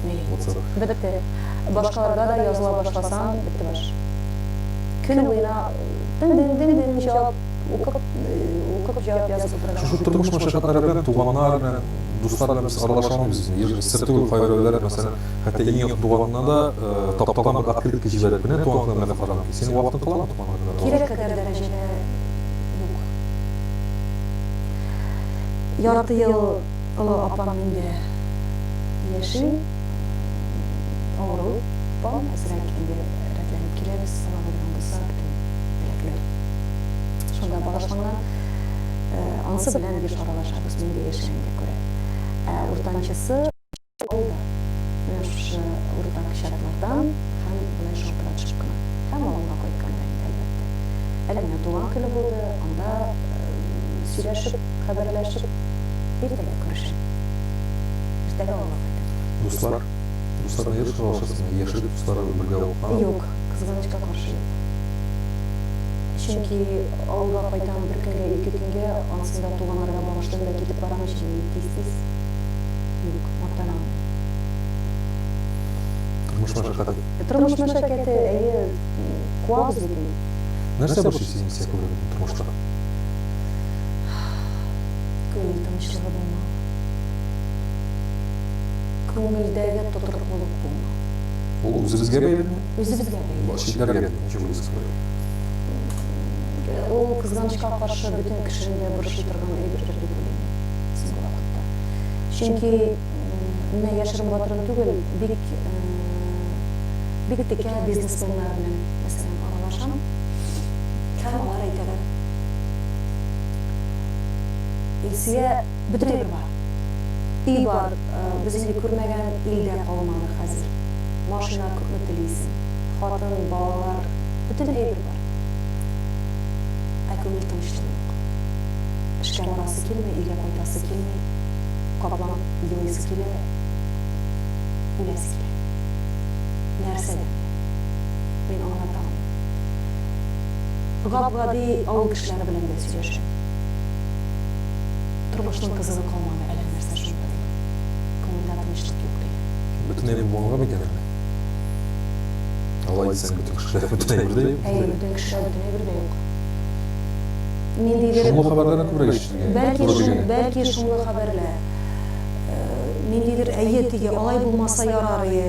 Ни? Бетте. Башкаларга да языла башласаң, бетте баш. Көн буена дин-дин-дин-дин җавап укып, укып җавап язып утырган. Шушы тормыш мәшәкатьләре белән туганнар белән, дуслар белән без аралаша алмыйбыз инде. Еш сер түгел кайберәүләр, мәсәлән, хәтта иң якын туганына да тапталган бер открытка җибәреп кенә туган көнеңне котларга мөмкин. Синең вакытың каламы туган көнеңне котларга? Кирәк кадәр дәрәҗәдә юк. Ярты ел Олы апам инде яши, авыру, апам әзрәк инде рәтләнеп килә, без аңа булган булса бөтен теләкләр шунда багышланган. Анысы белән еш аралашабыз, мин дә яшәгәнгә күрә. Ә уртанчысы ул да менә шушы уртак чатлардан һәм болай шалтыратышып кына һәм авылга кайтканда инде, әлбәттә. Әле менә туган көне булды, анда сөйләшеп. Хәбәрләшеп, иртәгә күрешик. Иртәгә авылга кайтырсың. Дуслар? Дуслар нигә шаулашасың? Яшьлек дусларыбыз бергә укыган. Юк, кызганычка каршы юк. Чөнки авылга кайтам бер көнгә, ике көнгә, ансын да туганнарга багышлыйм да китеп барам ич инде тиз-тиз. Юк, мактанам. Тормыш мәшәкате. Тормыш мәшәкате, әйе, куабыз бит инде. Нәрсә борчый сине психологиядән тормышта? Күңел тынычлыгы булмау. Күңелдәге тотрыклылык булмау. Ул үзебезгә бәйлеме? Үзебезгә бәйле. Бу читләргә бит ничек булса да. Ул, кызганычка каршы, бөтен кешене дә борчый торган әйбердер дип уйлыйм мин соңгы вакытта. Чөнки, менә яшерен батырын түгел, бик, бик текә бизнесменнар белән, мәсәлән, аралашам. Һәм алар әйтәләр. Илсөя, бөтен әйбер бар. Өй бар, без инде күрмәгән ил дә калмады хәзер. Машина күпме телисең. Хатын, балалар, бөтен әйбер бар. Ә күңел тынычлыгы юк. Эшкә барасы килми, өйгә кайтасы килми. Каплан елыйсы килә, үләсе килә. Нәрсәдән бу? Мин аңлата алмыйм. Гап-гади авыл кешеләре белән дә сөйләшә. Тормышның кызыгы калмады, әллә нәрсә шунда дип, күңелдә тынычлык юк, ди. Бөтенләй булмаганга бит әле. Алай дисәң, бөтен кешеләр бөтенләй бер дә юк. Әйе, бөтен кешеләр бөтенләй бер дә юк. Ниндидер... Шомлы хәбәрләрне күбрәк ишетергә туры килә. Бәлки шул, бәлки шомлы хәбәрләр. Ниндидер, әйе, теге, алай булмаса ярар, әйе.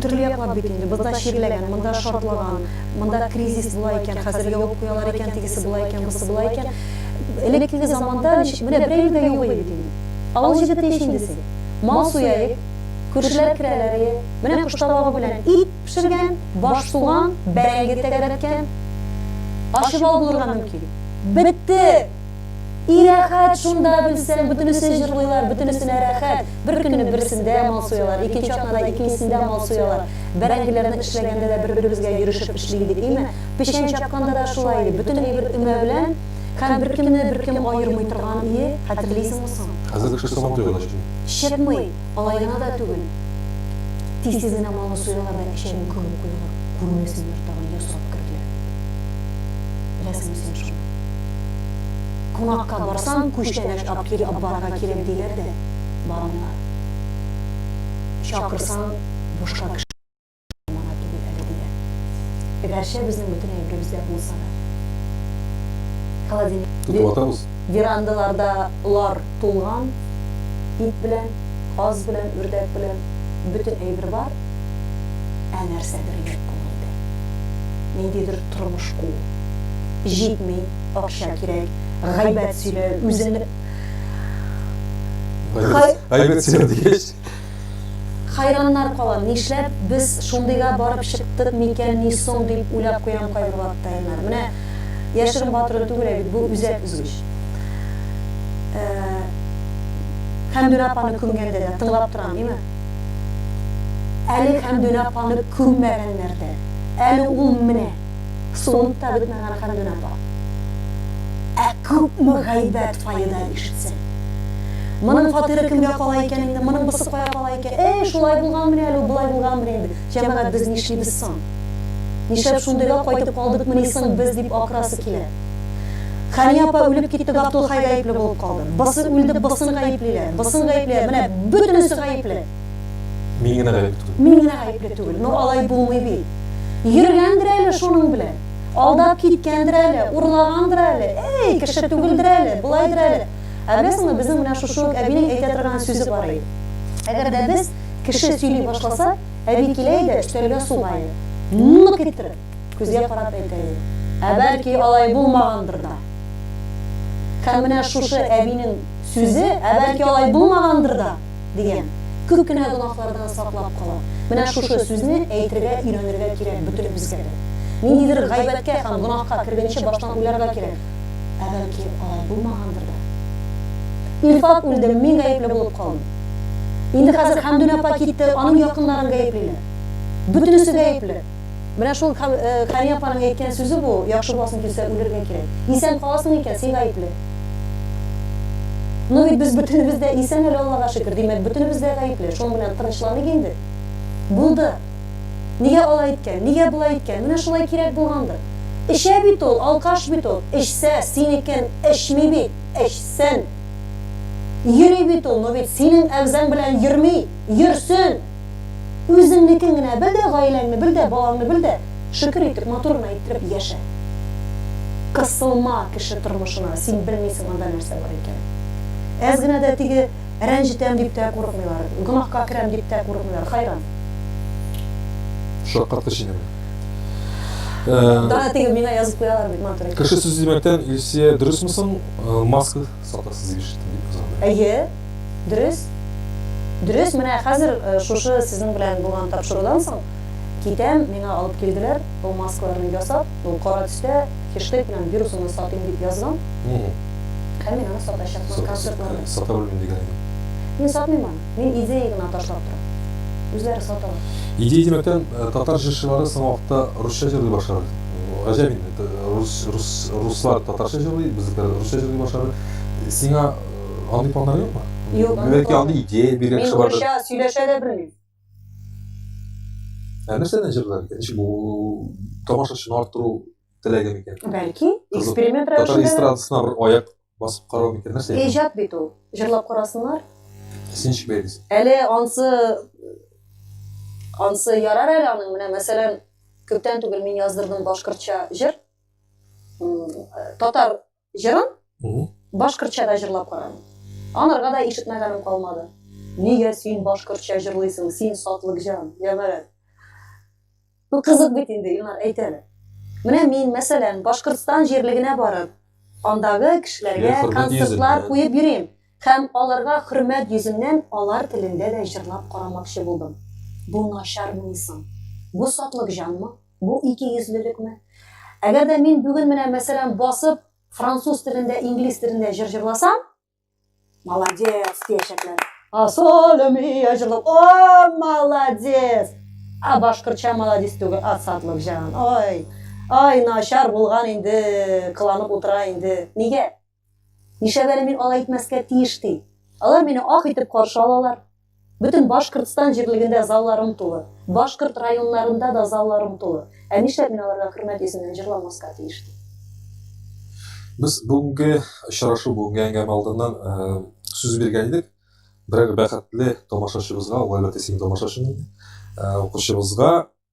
Төрле яклар бит инде, бозда чирләгән, монда шартлаган, монда кризис була икән, хәзер ябып куялар икән, тегесе була икән, бусы була икән. Элеккеге заманда ничек, менә берәү дә юк иде бит инде. Авыл җегете ич инде син. Мал суяек, күршеләр керәләрие, менә кош табагы белән ит пешергән, баш суган, бәрәңге тәгәрәткән. Ачы бал булырга мөмкин. Бетте! И рәхәт шунда белсәң, бөтенесе җырлыйлар, бөтенесенә рәхәт, бер көнне берсендә мал суялар, икенче атнада икенчесендә мал суялар, бәрәңгеләрне эшләгәндә дә бер-беребезгә йөрешеп эшли идек, име, печән чапканда да шулай иде, бөтен әйбер өмә белән һәм беркемне беркем аермый торган ие, хәтерлисеңме соң? Хәзер кеше сабан туйган эшли. Чыкмый. Алай гына да түгел, тиз-тиз генә малны суялар да эчәген күмеп куялар, күрмәсеннәр тагын, йә сорап керделәр бит. Беләсеңме син шуны? Кунакка барсаң, күчтәнәч ап кил, апбарга кирәк диләр дә бармыйлар. Чакырсаң, бушка кеше. Моңа түгел әле диләр. Гәрчә безнең бөтен әйберебез дә булса да. Холодильник. Тотып атабыз. Верандаларда лар тулган, ит белән, каз белән, үрдәк белән, бөтен әйбер бар. Ә нәрсәдер юк күңелдә. Ниндидер тормыш куу. Җитми, акча кирәк, гайбәт сөйлә, үзеңне. Гайбәт сөйлә дигәч. Хайраннар калам, нишләп без шундыйга барып чыктык микәнни соң дип уйлап куям кайбер вакытта, Илнар. Менә яшерен батыру түгел әбит, бу үзәк өзгеч. Ә, Хәмдүнә апаны күмгәндә дә тыңлап торам, име? Әле Хәмдүнә апаны күммәгәннәр дә. Әле ул менә. Суынта бетмәгән хәлдән апа. Ә күпме гайбәт фаеда ишетсен. Моның фатиры кемгә кала икән инде, моның бысы кая кала икән? Әй, шулай булганмыни әле ул, болай булганмыни инде? Җәмәгать, без нишлибез соң? Нишләп шундыйга кайтып калдыкмыни соң без, дип акырасы килә. Хәния апа үлеп китте, Габдулхай гаепле булып калды. Бысы үлде, бысын гаеплиләр, бысын гаеплиләр, менә бөтенесе гаепле! Мин генә гаепле түгел. Мин генә гаепле түгел. Но алай булмый бит. Йөргәндер әле шуның белән. Алдап киткәндер әле, урлагандыр әле. Эй, кеше түгелдер әле, болайдыр әле. Ә беләсеңме, безнең менә шушы ук әбинең әйтә торган сүзе бар иде. Әгәр дә без кеше сөйли башласа, әби килә иде, өстәлгә суга иде. Нык иттереп, күзгә карап әйтә иде. Ә бәлки алай булмагандыр да. Һәм менә шушы әбинең сүзе, ә бәлки алай булмагандыр да. дигән. Күп кенә гөнаһлардан саклап кала. Менә шушы сүзне әйтергә өйрәнергә кирәк бөтенебезгә дә. Ниндидер гайбәткә һәм гөнаһка кергәнче баштан уйларга кирәк. Ә бәлки, алай булмагандыр да? Илфат үлде, мин гаепле булып калдым. Инде хәзер Хәмдүнә апа китте, аның якыннарын гаеплиләр. Бөтенесе гаепле. Менә шул Хәния апаның әйткән сүзе бу, яхшы буласың килсә, үлергә кирәк. Исән каласың икән, син гаепле. Ну бит без бөтенебез дә исән әле, Аллага шөкер, димәк, бөтенебез дә гаепле. Шуның белән тынычланыйк инде. Булды. Нигә алай иткән, нигә болай иткән, менә шулай кирәк булгандыр. Эчә бит ул, алкаш бит ул. Эчсә, синекен эчми бит, эчсен. Йөри бит ул, ну бит синең әгъзаң белән йөрми, йөрсен! Үзеңнекен генә бел дә, гаиләңне бел дә, балаңны бел дә, шөкер итеп, матур гына иттереп яшә. Кысылма кеше тормышына, син белмисең анда нәрсә бар икәнен. Әз генә дә теге рәнҗетәм дип тә курыкмыйлар, гөнаһка керәм дип тә курыкмыйлар, хайран. Шаккатты сине бу. Дана теге миңа язып куялар бит матур итеп. Кеше сүзе димәктән, Илсөя, дөресме соң, маска. Сатыр сизеп ишеттем, дип кызгана. Әйе, дөрес. Дөрес, менә хәзер шушы сезнең белән булган тапшырудан соң китәм, миңа алып килделәр, ул маскаларны ясап, ул кара төстә хештег белән Вирусыңны сатыйм дип язган. Һәм мин аны сатачакмын концертларда. Сата белмим дигән идең. Мин сатмыйм аны. Мин идея гына ташлап торам. Үзләре саталар. Идея димәктән, татар җырчылары соңгы вакытта русча җырлый башлады. Гаҗәп инде, руслар татарча җырлый, безнекеләр русча җырлый башлады. Сиңа андый планнар юкмы? Юк. Бәлки андый идея биргән кеше бардыр. Мин русча сөйләшә дә белмим. Ә нәрсәдән җырлар икән? Ничек бу тамашачыны арттыру теләге микән? Бәлки, эксперимент рәвешендә. Татар эстрадасына бер аяк Басып карау микән? Нәрсә икән? Иҗат бит ул. Җырлап карасыннар. Син ничек бәялисең? Әле ансы ансы ярар әле аның. Менә мәсәлән, күптән түгел мин яздырдым башкортча җыр. Татар җырын башкортча да җырлап карадым. Анарга да ишетмәгәнем калмады. Нигә син башкортча җырлыйсың, син сатлыкҗан, җәмәгать? Бу кызык бит инде, Илнар, әйтәле. Менә мин, мәсәлән, Башкортстан җирлегенә барып, андагы кешеләргә концертлар куеп йөрим. Һәм аларга хөрмәт йөзеннән алар телендә дә җырлап карамакчы булдым. Бу начармыни соң? Бу сатлык җанмы? Бу икейөзлелекме? Әгәр дә мин бүген менә, мәсәлән, басып француз телендә, инглиз телендә җыр җырласам, Молодец, тиешәкләр. Асолемия җырлап. О, молодец. А башкортча молодец түгел, асадлык җан. Ой. Ай, начар булган инде, кыланып утыра инде. Нигә? Нишәбәле мин алай итмәскә тиеш ди. Алар мине ак итеп каршы алалар. Бөтен Башкортстан җирлегендә залларым тулы. Башкорт районнарында да залларым тулы. Ә нишләп мин аларга хөрмәт йөзеннән җырламаска тиеш? ди. Без бүгенге очрашу, бүгенге әңгәмә алдыннан сүз биргән идек. Берәр бәхетле тамашачыбызга, ул әлбәттә синең тамашачың инде, укучыбызга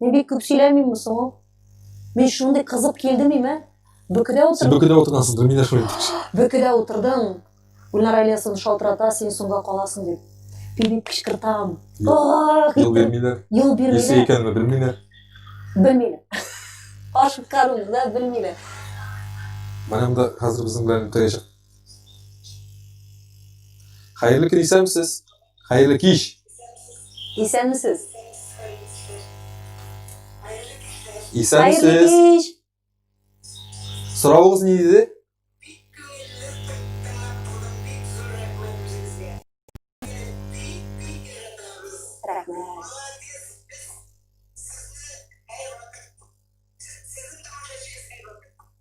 Мин бик күп сөйләмим соң. Мин шундый кызып килдем име? Бөкедә утыр. Син бөкедә утырасың, Гөлминә шулай дип. Бөкедә утырдың. Гүлнара Ильясын шалтырата, син соңга каласың дип. Пилип кычкыртам. Юл бирмиләр. Юл бирмиләр. Есе икәнме белмиләр. Белмиләр. Ашып каруны да белмиләр. Менә монда хәзер безнең белән үтәячәк. Хәерле көн, исәнмесез. Хәерле кич! Исәнмесез! Хәерле кич! Соравыгыз ни иде?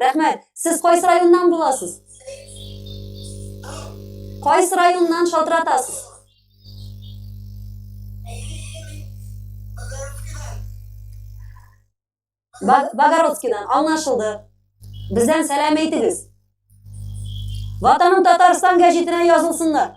Рәхмәт. Сез кайсы районнан буласыз? Кайсы районнан шалтыратасыз? Богородскидан аңлашылды. Бездән сәлам әйтегез. Ватаным Татарстан гәҗитенә язылсыннар.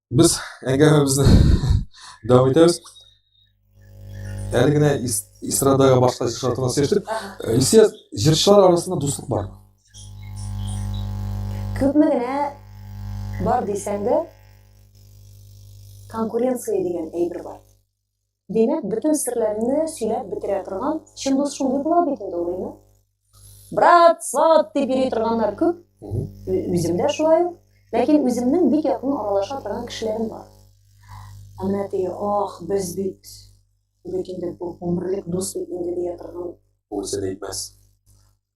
Без әңгәмәбезне дәвам итәбез. Әле генә эстрадага башка җырчылар турында сөйләштек. Э, Илсия, җырчылар арасында дуслык бар. Күпме генә бар дисәң дә, конкуренция дигән әйбер бар. Димәк, бөтен серләрне сөйләп бетерә торган чын дус шундый була бит инде ул, әйме? Брат, сват дип йөри торганнар күп. Үзем дә шулай ук. Ләкин үземнең бик якын аралаша торган кешеләрем бар. Ә менә теге, ах, без бит бит инде бу гомерлек дус бит инде дия торган. Ул сер әйтмәс.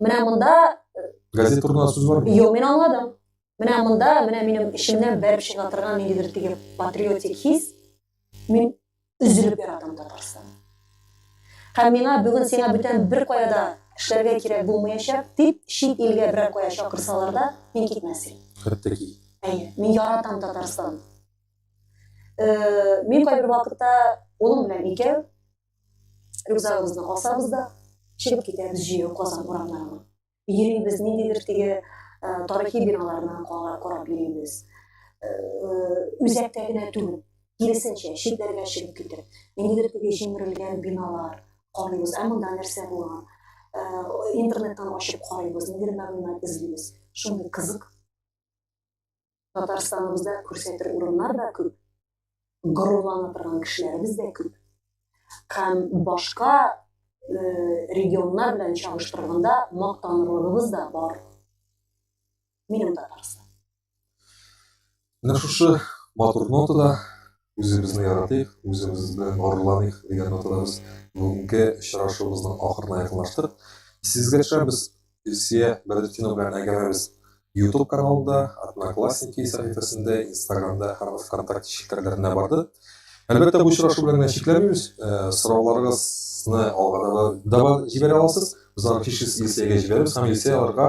Менә монда газет турында сүз бар. Юк, мин аңладым. Менә монда, менә минем эчемнән бәреп чыга торган ниндидер теге патриотик хис. Мин өзелеп яратам Татарстан. Һәм миңа бүген сиңа бүтән бер кая да эшләргә кирәк булмаячак, дип чит илгә берәр кая чакырсалар да, мин китмәс идем. Хәтта ки. Әйе, мин яратам Татарстан. Э, мин кайбер вакытта улым белән икәү Рюкзагыбызны асабыз да, чыгып китәбез җәяү Казан урамнарына. Йөрибез, ниндидер теге э, тарихи биналарны карап йөрибез. Э, э, үзәктә генә түгел, киресенчә, читләргә чыгып китеп, ниндидер теге җимерелгән биналар карыйбыз, ә монда нәрсә булган? Интернеттан ачып карыйбыз, ниндидер мәгълүмат эзлибез. Шундый кызык. Татарстаныбызда күрсәтер урыннар да күп, горурлана торган кешеләребез дә күп. Һәм башка регионнар белән чагыштырганда мактанырлыгыбыз да бар. Минем Татарстан. Менә шушы матур нотада Үзебезне яратыйк, үзебезне горурланыйк, дигән нотада без бүгенге очрашуыбызның ахырына якынлаштык. Исегезгә төшерәбез, Илсөя Бәдретдинова белән әңгәмәбез YouTube каналында, Одноклассники сәхифәсендә, Инстаграмда һәм ВКонтакте челтәрләренә барды. Әлбәттә, бу очрашу белән генә чикләнмибез. Сорауларыгызны алга да җибәрә аласыз. Без аларны һичшиксез Илсөягә җибәрәбез һәм Илсөя аларга